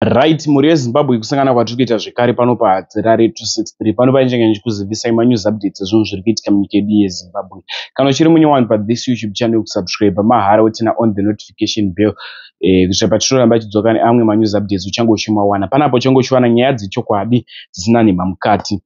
Right, mhuri yeZimbabwe kusangana kwatiri kuita zvekare pano paHadzirare 263 pano pane chenge ndichikuzivisai manews updates ezvinhu zviri kuitika munyika yedu yeZimbabwe. Kana uchiri munyowani pathis YouTube channel kusubscribe mahara wotina on the notification bell eh, kuitira patinoramba tichidzoka neamwe manews updates uchange uchimawana. Panapo uchange uchiwana nyaya dzechokwadi dzisina nhema mukati.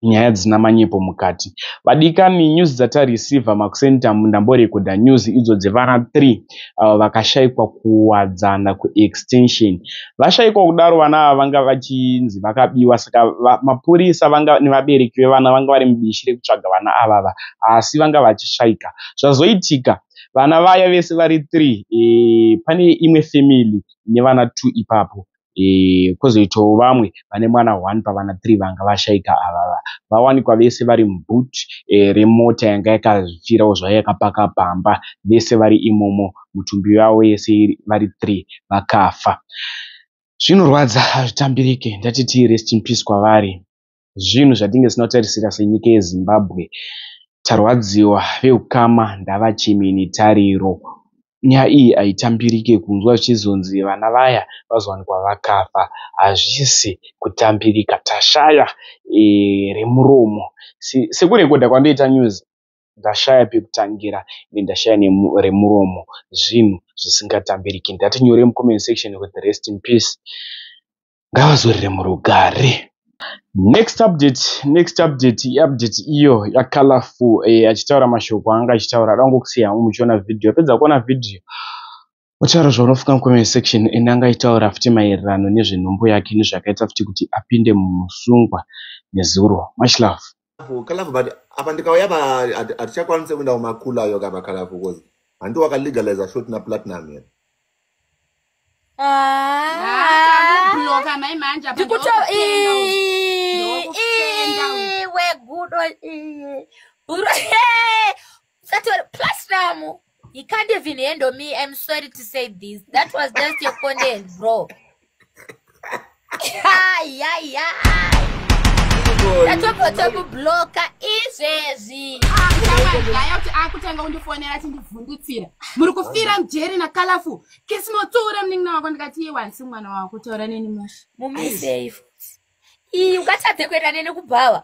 nyaya dzisina manyepo mukati vadikani news dzatareceiver makuseni tamu ndamborekodha news idzo dzevana 3 avo vakashaikwa kuwadzana kuextension vashaikwa kudaro vana ava vanga vachinzi vakabiwa saka mapurisa vanga nevabereki vevana vanga vari mubishi rekutsvaga vana avava asi vanga vachishaika zvazoitika vana vaya vese vari 3 e, eh, pane imwe family nevana 2 ipapo eh, kwozoitawo vamwe vane mwana one pavana three vanga vashaika avava vawanikwa vese vari muboot eh, remota yanga yakafirawo zvayo yakapaka pamba vese vari imomo mutumbi yavo yese vari three vakafa zvinorwadza hazvitambirike ndati tii rest in peace kwavari zvinhu zvatinge tisina kutarisira senyika yezimbabwe tarwadziwa veukama ndava chimini tariro nyaya iyi haitambirike kunzwa zvichizonzi vana vaya vazowanikwa vakafa hazvisi kutambirika tashaya e, remuromo sekurekodha kwandoita news ndashaya pekutangira ine ndashaya remuromo zvinhu zvisingatambiriki ndati nyore mucomment section with rest in peace ngavazorere murugare next update next update iupdate iyo yacolorful eh, achitaura e, mashoko anga achitaura ada kungokusiya hangu muchiona video pedza kuona video otaura zvaunofunga mucomment section ende anga aitaura futi maererano nezvenhumbu yake nezvakaita futi kuti apinde mumusungwa nezuro much love colorful colorful but apa ndikauya pa hatichakwanise kuenda kumakula ayo kapa colorful cause handi wakalegaliza short na platinum here ndikutoiwe gudo bhuru Satori plus now he can't even handle me. I'm sorry to say this. That was just your content, bro. Hi, yeah, yeah. Tatopo topo blocker izvezvi. Ah, Ndaya kuti akutanga undifonera tindivhundutsira. Muri kufira mjeri na colorful. Kesi motora munin'ina wako ndikati iwa nsi mwana wako taura neni mushi. Mumi safe. Iyi ungatadze kuenda neni kubhawa.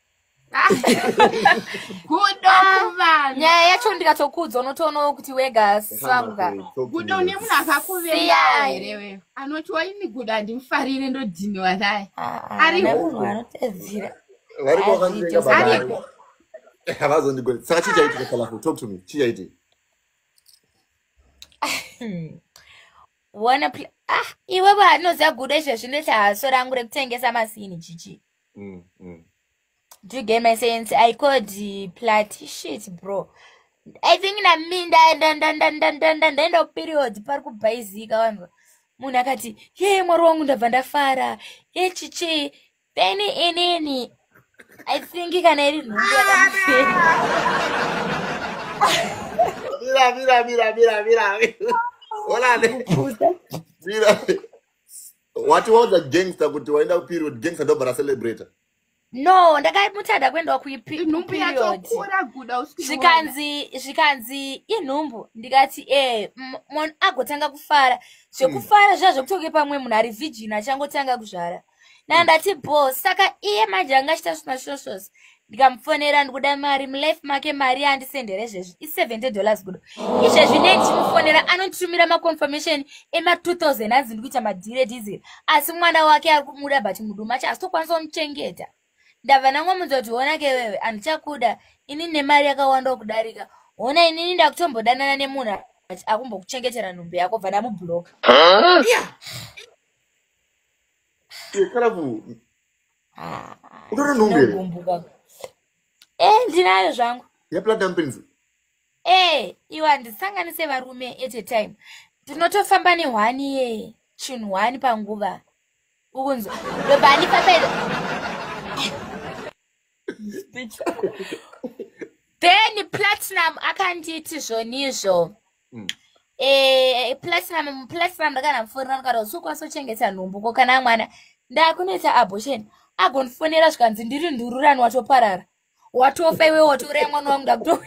gudo kuvana nyaya yacho ndikatokuudza unotoonawo kuti wega sisanga gudo une munhu akakuveya here wewe anoti waini gudo handimufarire ndodhiniwa naye ah, ah, ariko anotedzira ariko havazondigoni saka chii chaitika kalafu talk to me chii chaitika wona ah iwe vanoziva gudo izvezvi ndoita haso rangu rekutengesa masini chichi mm, mm. do you get my sense i called plat shit bro i think nami ndaenda kuperiod pari kubhaizika vanhu munhu akati ye mwari wangu ndabva ndafara echichi then inini i think kana iri nhumbu yakamira mira mira mira mira olane mira wati waudza gangster kuti waenda kuperiod gangster ndobva racelebrata no ndakamutada kuendawa kuiperiodvikanzi zvikanzi inhumbu ndikati e munhu agotanga kufara zvekufara zviya zvekutoke pamwe munhu ari virgin achangotanga kuzvara nandati bo saka iye manje anga achita zvimashoshosi ndikamufonera ndikuda mari mulife make mari yaandisendere izvezvi i70 dollars kudo izvezvi nei ndichimufonera anonditumira maconfirmation ema2000 anzi ndikuita madhire dizil asi mwana wake ari kumuda but muduma acho asitokwanisa kumuchengeta ndabva ndangomunza kuti hona ke wewe handichakuda ini nemari yakawanda kudarika hona inini ndakutombodanana nemunhu akumbokuchengetera nhumbi yako bva ndamubloka huh? yeah. utori nhungu here Ndogumbuka. Eh, ndinayo zvangu yeplatinum pins Eh, iwe handisanganise varume at a time ndinotofamba nehwani ye chinhu hwani panguva ukunzwa ndobva handipa pedza then platinum akanditi zvonizvo mm. eh, platinum platinum ndakana mufonera ndikati usokwanisa kuchengeta nhumbu ko kana mwana ndakunoita abortion agondifonera zvikanzi ndiri ndururani watoparara watofa iwe watouraya mwana wangu ndakuto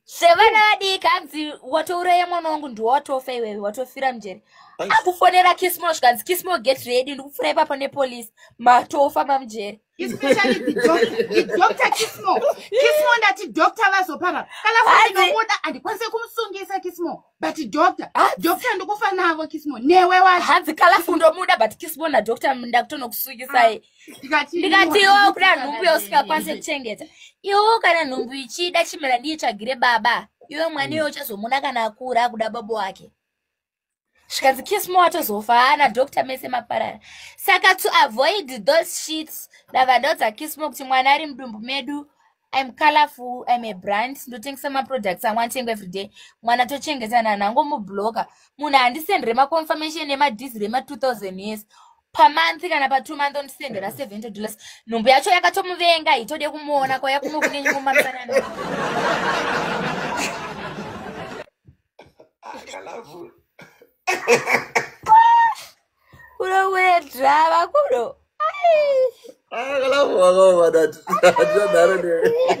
zvevana vadiki hanzi watouraya mwana wangu ndiwatofa iwewe watofira mjeri akufonera kismo zvikanzi kismo get ready ndikupfura ipapo nepolice matofa mamjeri especially the doctor the doctor kismo kismo ndati doctor vazopara kana kuinomuda handikwanise kumusungisa kismo but doctor doctor ndikufa navo kismo newe wacho hanzi kala fundomuda but kismo nadoctor ndakutonokusungisai ah, ndikati iwo kuda nhumbu yausingakwanise kuchengeta iwo kana nhumbu ichida chimera ndiitsvagire baba iwe mwana iwe uchazomuda kana akura akuda baba wake zvikanzi kismo atozofa haana doctor mese maparara saka to avoid those sheets ndava ndaudza kismo kuti mwana ari mudumbu medu im colorful im a brand ndotengesa maproducts amwe anotengwa everyday mwana tochengeta nani angomubloka munhu handisendere maconfirmation nemadhiziri ema 2000 years pamonth kana patwo month ondisendera 70 dollars nhumbu yacho yakatomuvenga hitode kumuona kwaya kuno kune nyumomamisanana kurowedza vakuru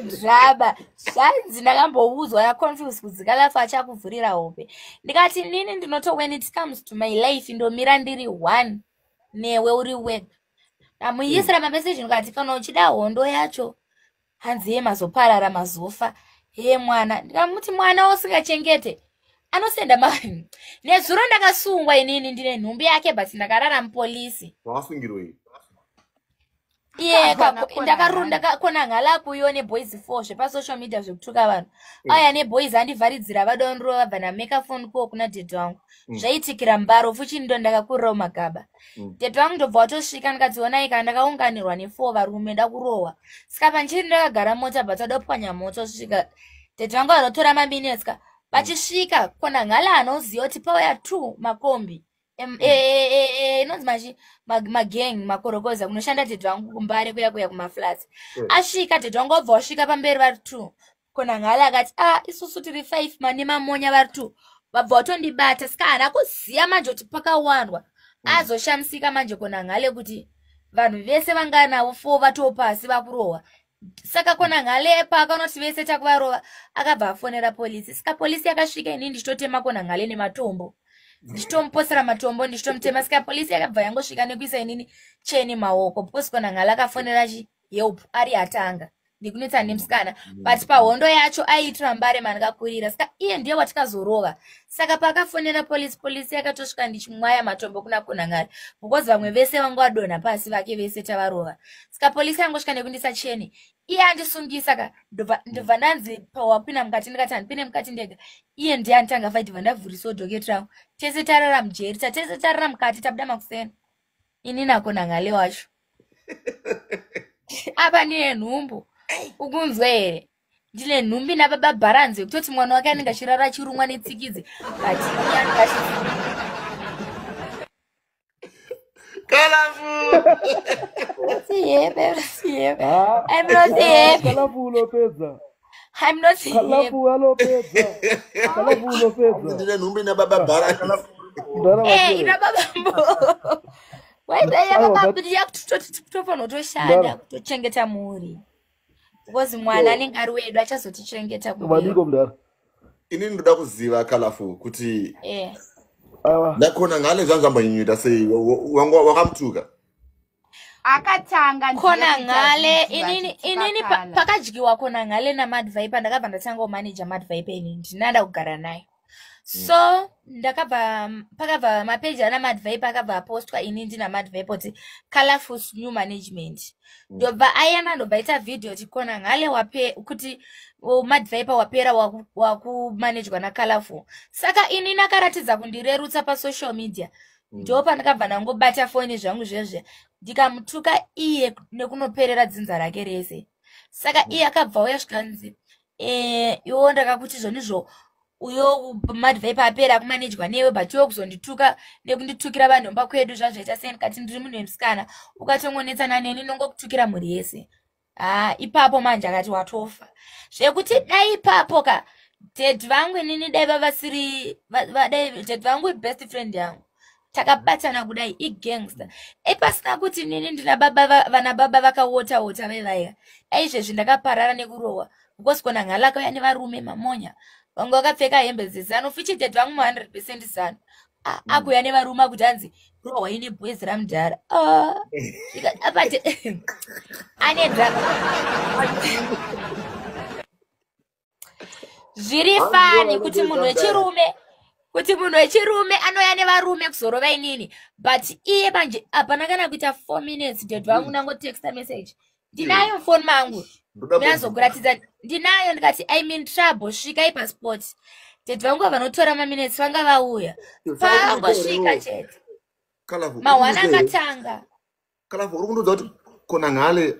draba zvanzi ndakamboudzwa naconfuse kudzika lafu achakuvhurira hope ndikati nini ndinoto when it comes to my life ndomira ndiri one newe uri wega ndamuisira mameseji ndikati kana uchida hondo yacho hanzi ye mazoparara mazofa hee mwana ndikamuti mwana usingachengete anosenda ma nezuro ndakasungwa inini ndine nhumbi yake but ndakarara mupolisi wakasungirwei ndakakona ngala kuyo neboys four zvepasocial media zvekutuka vanhu mm. aya neboys andivharidzira vadonrova vana mekafonko kuna dede wangu mm. zvaitikira mbaro fuchini ndo ndakakurirawo magaba Mm. tete vangu ndobva watosvika ndikadzionai kana ndakaunganirwa nefour varume ndakurohwa saka panchiri ndakagara mota bvatadopwanya mota osvika tete vangu vanotora maminutes ka vachisvika kona ngala anoziva kuti pauya two makombi mm. e, e, e, inonzi machi magang makorokoza kunoshanda tete vangu kumbare kuya kuya kumaflats asvika tete vangu obva wasvika pamberi vari two konangale akati a ah, isusu tiri five mane mamonya vari two vabva vatondibata sika haana kuziva manje kuti pakawandwa mm. azoshamisika manje konangale kuti vanhu vese vanga navo fo vatoo pasi vakurohwa saka kona nghale paakanoti vese takuvarova akabva afonera polisi saka polisi yakasvika ini ndichitotema kona nghale nematombo ndichitomuposera matombo ndichitomutema saka polisi yakabva yangosvika nekuisa inini cheni maoko because kona nghale akafonera chi help ari atanga ndikunetsa nemusikana mm. but pahondo yacho aiitira mbare mandikakurira saka iye ndiye watikazorova saka paakafonera polisi polisi yakatosvika ndichimwaya matombo kuna kunangari because vamwe vese vanga vadonha pasi vake vese tavarova saka polisi yangosvika nekundisa cheni iye andisungisa ka ndobva ndanzi pawapina mukati ndikati handipine mukati ndega iye ndiye anditanga faiti bva ndavhurisawo doketravo tese tarara mujeri tatese tarara mukati tabuda makuseni ini nako nanhale wacho apa ndine nhumbu ukunzwa here ndine nhumbi nababa bharanzi yekutoti mwana wake anenge achirara achirumwa netsikidzi but Colorful. Siempre, siempre. Ah, I'm not siempre. Colorful, Lopeza. I'm not him. Kalafu alopedza. Kalafu unopedza. Ndine nhumbi na baba bara. Ndara Eh, ina baba mbo. Why dai ya baba bidi ya kutofanira kutoshanda kutochengeta mhuri. Because mwana anenge ari wedu achazotichengeta kuno. Madiko mdara. Ini ndoda kuziva Kalafu kuti Eh. Ndakona ngane zvanzvamba nyunyuta sei wanga wakamutuka. akatanga kona ngale inini inini pakadyiwa kona ngale namadvipe ndakabva ndatanga kumanaja madvipe ini ndinada kugara naye mm. so ndakabva pakabva mapeji ana madvipe akabva apostwa ini ndina madvipe kuti colorful new management mm. ndobva mm. ayana ndobva ita video kuti kona ngale wape kuti madvipe wapera wakumanejwa nacolorful saka ini nakaratidza kundirerutsa pasocial media mm. ndo pandakabva ndangobata foni zvangu zvezve ndikamutuka iye nekunoperera dzinza rake rese saka mm. iye akabva uya zvikanzi eh, iwo ndakakuti zvonizvo uyo madvai paapera akumanejwa newe but iwe kuzondituka nekunditukira vanhomba kwedu zvazvaita sei ndikati ndiri munhu wemusikana ukatongonetsana neni nongokutukira mhuri yese haa ah, ipapo manje akati watofa zvekuti dai ipapo ka ded vangu inini dai vavasiri vadai ded vangu ibest friend yangu takabatana kudai igangster ipasina kuti nini ndina baba vana baba vakawota wota vevaiya aizvezvi ndakaparara nekurohwa because kona nghala kauya nevarume mamonya vanga vakapfeka hembe dzezano fuchided vangu mu 100 percent zano A- Mm. akuuya nevarume akuti hanzi rohwa ine boys ramudhara Ah, ika- apate ane drama zviri Hanzi fani rohwa ine kuti boys munhu ramudhara. wechirume kuti munhu wechirume anouya nevarume kuzorova inini but iye manje hapana kana kuita four minutes dad vangu ndangotexta message ndinayo mufoni mangu ndinazokuratidza ndinayo ndikati im in trouble svika ipasport tete vangu vanotora maminetsi vanga vauya paangosvika chete mahwana akatanga kalafu uri kundiudza kuti kona ngale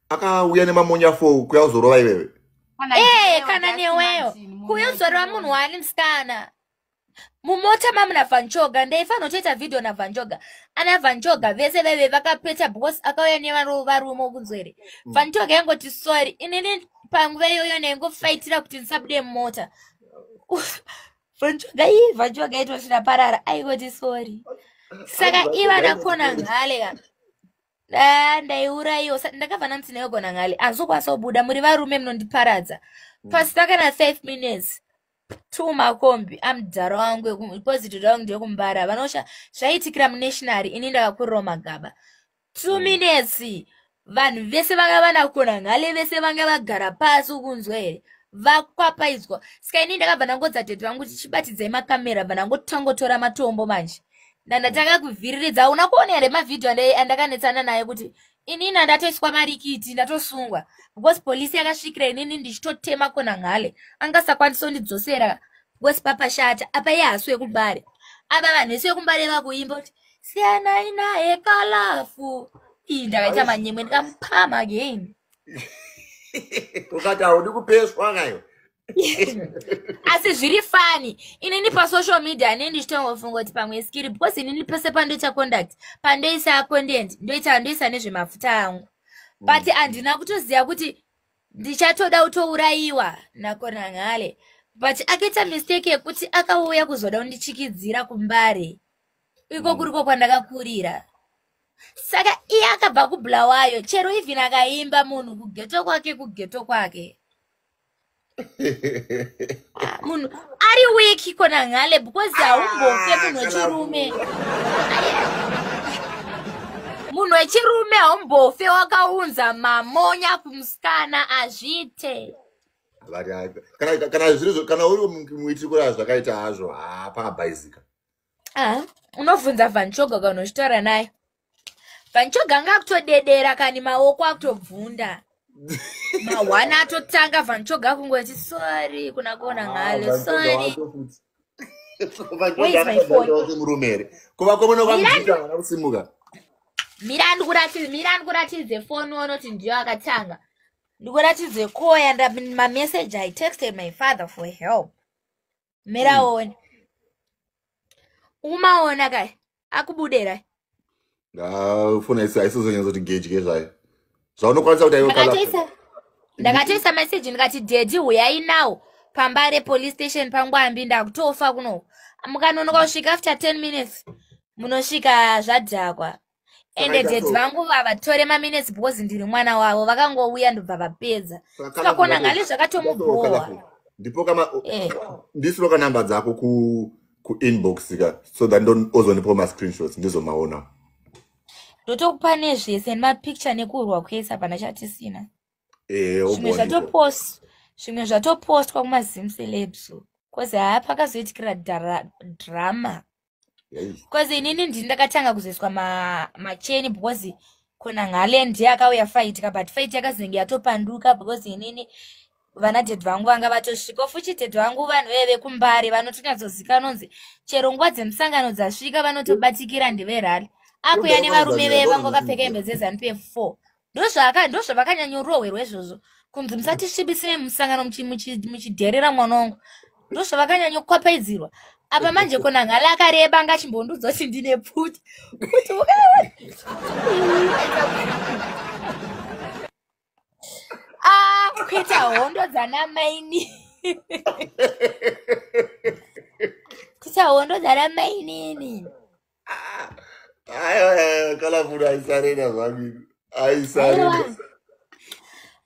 akauya nemamonya fo kuya uzorova iwewe ee eh, kana neweyo kuya uzorova munhu waani musikana mumota mamu navanjoga ndaifanira kutoita vhidhiyo navanjoga ana vanjoga vese vaive vakapeta because akauya nevarume kunzwa here mm. vanjoga yangoti sorry inini panguva iyoyo ndaingofaitira kuti ndisabude mumota vanjoga ii vanjoga itoti ndaparara aingoti sorry saka ivana kona nhale ka ah, ndaiurayiwo ndakabva nanzi ndayogona nhale anzokwanisa kubuda muri varume munondiparadza mm. pasina kana five minutes two makombi amudhara wangu epositi dha wangu ndeyekumbara vanosha zvaiitikira munationary ini ndakakurirawo magaba two mm. minutes vanhu vese vanga vana kona nhale vese vanga vagara pasi ukunzwa here vakwapaidzwa saka ini ndakabva ndangodza tete vangu kuti chibatidzai makamera bva ndangotangotora matombo manje ndandatanga kuvhiriridza hauna kuona here mavhidhiyo andakanetsana naye kuti inini andatoiswa marikiti ndatosungwa because polisi yakasvikira inini ndichitotema kona nghale angasakwanisa kundidzosera because papashata apa iye hasu yekumbare apa vanhu vese vekumbare vakuimba kuti siyanai naye kalafu ii ndakaita manyemwe ndikamupama again ukati haudi kupeswa kayo asi zviri fani inini pasocial media ne ndichitongofunga kuti pamwe skiri because inini pese pandoita conduct pandoisa content ndoita ndoisa nezvemafuta angu but mm. handina kutoziva kuti ndichatoda kutourayiwa nakonangale but akaita mistake yekuti akauya kuzoda kundichikidzira kumbare iko mm. kuriko kwandakakurira saka iye akabva kubulawayo chero even akaimba munhu kugeto kwake kugeto kwake Ah, munhu ari weki kona ngale because haumbofe ah, munhu wechirume munhu wechirume haumbofe wakaunza mamonya kumusikana azviite kana uri muitiri kuraa zvakaita hazvo hapabhaizika ah, unobvunza vanchoga kana uchitaura naye vanchoga anga akutodedera kani maoko akutobvunda mahwana atotanga vanchoga akungoti sorry kuna kuona ah, ngalo sorry murumere kuva kwemuna kwamuita vana kusimuka mira ndikuratidze mira ndikuratidze foni onoti ndiyo akatanga ndikuratidze koya mameseji i texted my father for help miraone umaona kai akubudera ndafona aisizonyanyzoti gedye zvayo zvaunokwanisa kuti aiokala ndakatoisa meseji ndikati dedi huyai nawo pamba repolice station pangwambi ndakutofa kuno mukanonoka kusvika after ten minutes munosvika zvadhakwa ende Zvakaita daddy so. vangu vavatore maminutes because ndiri mwana wavo vakangouya ndobva vapedza Kana saka kuona kuda ngale ku- kuda kuda zvakatomubhowa ku- ndipo kama Eh. ndisiro ka number dzako ku ku inbox ka so that ndo ozonipa ma screenshots ndizomaona ndotokupa nezvese nemapicture nekurwa kwese hapana chatisina eh zvimwe obondipo zvatopost zvimwe zvatopostwa kumazim celebs kozi haa pakazoitikira dara- drama bcause inini ndini ndakatanga kuzoiswa macheni ma because kona ngale ndiye akauya faitika but fait yakazenge yatopanduka because inini vana dhedhi vangu vanga vatosvika futi dhedhi vangu vanhu vee vekumbare vanotonyatsoziva nonzi chero nguva dzemusangano dzasvika vanotobatikira ndeverali akuya nevarume vee vangu vakapfeka hembe dzezanup f four ndozvaka ndozvavakanyanyorohwerwa izvozvo kunzi musatisvibisire musangano muchidherera mwana wangu ndozvavakanyanyokopaidzirwa apa manje kona ngala akareba anga achimbondudzo kuti ndine pfuti kuti ah, kuita hondo dzana maini kuita hondo dzana mainini kana munhu aisarena zvangu aisarena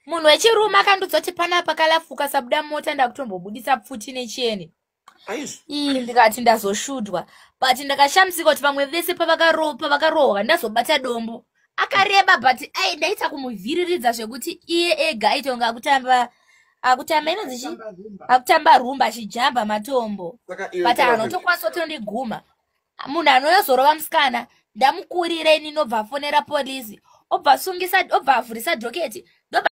munhu wechirume akandiudza kuti panapa kalafuka sabuda mota ndakutombobudisa pfuti necheni ii ndikati ndazoshudwa but ndakashamisika kuti vamwe vese pavakarohwa ndazobata dombo akareba but ai ndaita kumuvhiriridza zvekuti iye ega aitonga akutamba akutamba inonzi chi akutamba rumba achijamba matombo but anotokwanisa kutondiguma munhu anonyazorova musikana ndamukurire ini nobva afonera polisi obva asungisa obva avhurisa dhoketi